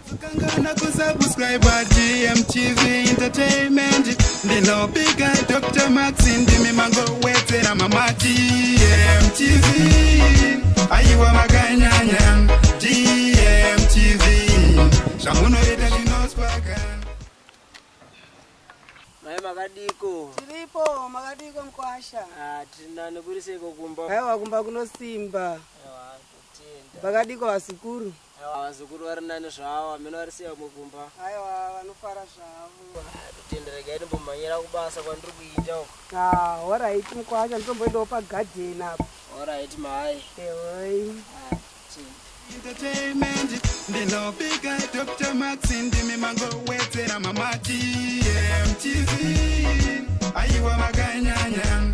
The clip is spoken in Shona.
Vakangana kusubscriber GMTV Entertainment Ndinopika Dr. Max ndimi mangowedzera mama GMTV Aiwa makanyanya GMTV Zvamunoita zvinospaka Mai makadiko? Tiripo, makadiko mkwasha? Ah, tina nekuriseko kumba. Aiwa kumba kunosimba. Aiwa, totenda. Makadiko vasikuru? Aiwa vazukuru vari nani zvavo hameno varisiya vamwe kumba. Aiwa vanofara zvavo. Totenda regai ndimbomhanyira kubasa kwandiri kuita uko. Ah, horaiti mukwacha nditomboendawo pagadheni apo. Horaiti mai. Ehoi. Ah, Entertainment ndinopika Dr. Max ndimi mangowedzera mamati MTV aiwa makanyanya